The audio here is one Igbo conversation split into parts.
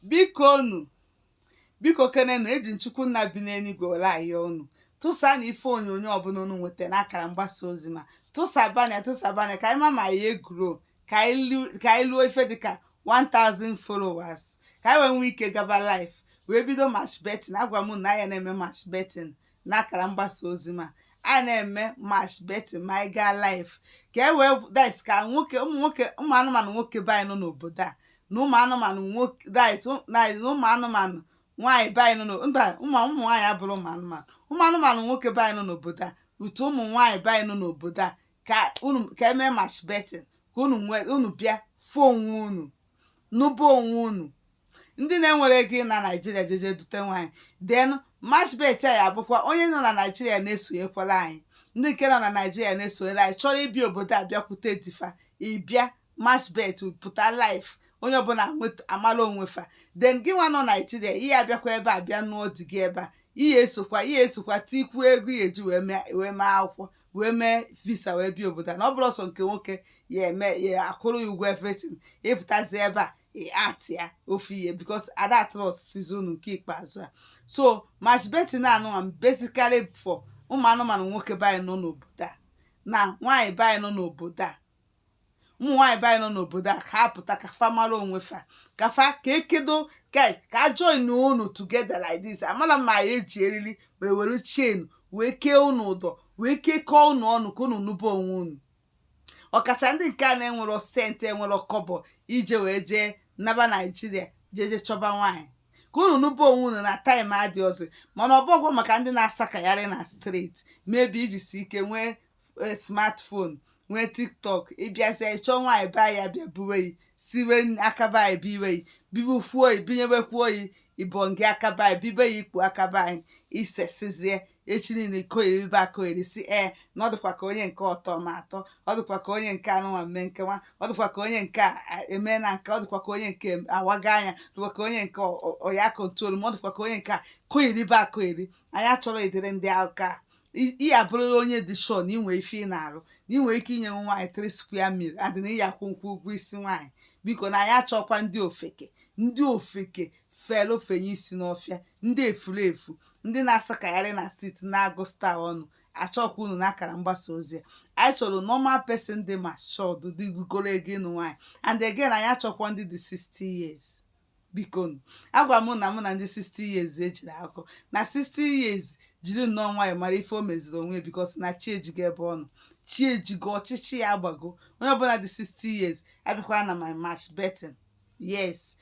biko unu biko kenenu eji nchukwu nna bi n'eluigwe were ayọ unu tụsa na ife onyonyo ọbụla unu nweta n'akara mgbasa ozi m a tụsabana ya tụsabana ya ka anyị ma ma ọ ya egrow ka anyị lu- ka anyị luo ife dịka 1000 followers ka anyị wee nwee ike gaba live wee bido match betting agwa m na a ya na-eme match betting n'akara mgbasa ozi m a a ya na-eme match betting ma anyị gaa live ka e wee dis ka nwoke ụmụ nwoke ụmụ anụmanụ nwoke be anyị nọ n'obodo a na ụmụ anụmanụ nwoke dis na ụmụ anụmanụ nwaanyị be anyị nọ n'o- mba ụmụ ụmụ nwaanyị abụrọ ụmụ anụmanụ ụmụ anụmanụ nwoke be anyị nọ n'obodo a to ụmụ nwaanyị be anyị nọ n'obodo a ka unu ka emee match betting ka unu nwee unu bịa fụ onwe unu nụba onwe unu ndị na-enwerọ ego ị na naijiria jeje dute nwaanyị then match bet a ya abụkwa onye nọ na naijiria na-esonyekwara anyị ndị nke nọ na naijiria na-esonyere anyị chọrọ ịbịa obodo a bịakwute di fa ịbịa match bet pụta live onye ọbụla amara onwe fa then gị nwa nọ naijiria ị ya abịakwa ebe a bịa nụọ di gị ebe a ị ya esokwa ị ya esokwa tikwu ego ị ya eji wee mee akwụkwọ wee mee visa wee bịa obodo a na ọ bụrọ sọ nke nwoke ya eme ya akwụrụ ya ụgwọ everything ịpụtazi ebe a ati ya ofu ihe because ada trustịzi unu nke ikpeazụ a so match betting anụnwa basically for ụmụ anụmanụ nwoke be anyị nọ n'obodo a na nwaanyị be anyị nọ n'obodo a ụmụ nwaanyị be anyị nọ n'obodo a ka ha pụta ka fa mara onwe fa ka fa ka ekedo ka ka a join unu together like this amarọ m ma a ya eji eriri ma ewere chain wee kee unu ụdọ wee kekọọ unu ọnụ ka unu nụba onwe unu ọkacha ndị nke a na-enwerọ cent enwerọ kọbọ eji wee jee naba naijiria jee jee chọba nwaanyị ka unu nụba onwe unu na time adịrọzị mana ọ bụghị maka ndị na-asakagharị na street maybe i jisi ike nwee e, smartphone nwee tiktok ịbịazie ịchọ nwaanyị be ya bịa buwe yi siwe akaba anyị biwe yi bibufuo oyi binyebekwa oyi ibongi akaba anyị bibe ya ikpu akaba anyị isesizie echi niile koyeribe akoyeri si ee na ọ dịkwa ka onye nke ọ tọọ m atọ ọ dịkwa ka onye nke anụnwa mme nke nwa ọ dịkwa ka onye nke eme na nke ọ dịkwa ka onye nke awaga anya dịkwa ka onye nke ọ ya control ma ọ dịkwa ka onye nke a koyeribe akoyeri anyị achọrọ ụdịrị ndị aka ị ya abụrịrị onye dị sure na inwe ife ị na-arụ na inwe ike inyenwu nwaanyị three square meal a day na ị ya akwụnwu ụgwọ isi nwaanyị biko na anyị achọkwa ndị ofeke ndị ofeke felụ fenye isi n'ọfịa ndị efuru efu ndị na-asakagharị na city na-agụ star ọnụ achọkwa unu n'akara mgbasa ozi a anyị chọrọ normal person dị matured lugoro ogo ịnụ nwaanyị and again anyị achọkwa ndị dị 60 years biko agwa m na mụ na ndị 60 years ejiri akọ na 60 years jiri nnọọ nwayọ mara ife o meziri onwe because na chi ejigo ebe ọ nọ chi ejigo ọchịchịị agbago onye ọbụla dị 60 years abịakwana my match betting yes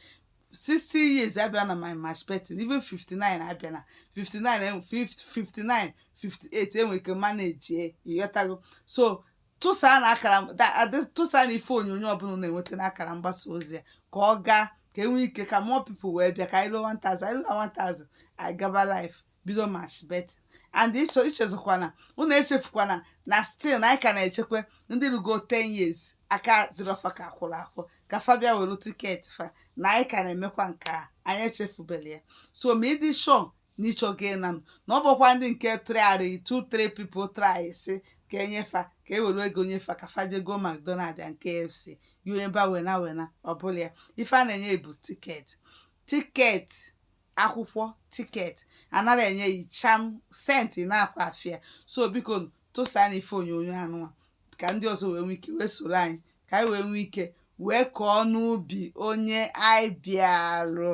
60 years abịana my match betting even 59 abịana 59 59 58 enwere ike manage ịghọtago so tụsaa na akara da- adị- tụsaa na ife onyonyo ọbụla na-enweta na akara mgbasa ozi ya ka ọ gaa ka enwee ike ka more people wee bịa ka anyị ruo 1000 anyị ruo 1000 anyị gaba live bido match betting and ịchọ ichezọkwana unu echefukwana na still na anyị ka na-echekwa ndị rugo 10 years aka dịrọ fa ka akwụrụ akwụ ka fa bịa were ticket fa na anyị ka na-emekwa nke a anyị echefuberọ ya so ma ị dị sure n'ịchọ gị na m na ọ bụkwa ndị nke trịarị 2 3 people try sị ka enye fa ka e were ego nye fa ka fa jee goo mcdonald and kfc yi onye bụ winner winner ọbụla ya ife a na-enye bụ ticket ticket akwụkwọ ticket anaghị enye yi cham cent n'aka fa so biko tụsa na ife onyonyo anụnwa ka ndị ọzọ wee nwee ike wee soro anyị ka anyị wee nwee ike wee kọọ n'ubi onye anyị bịarụ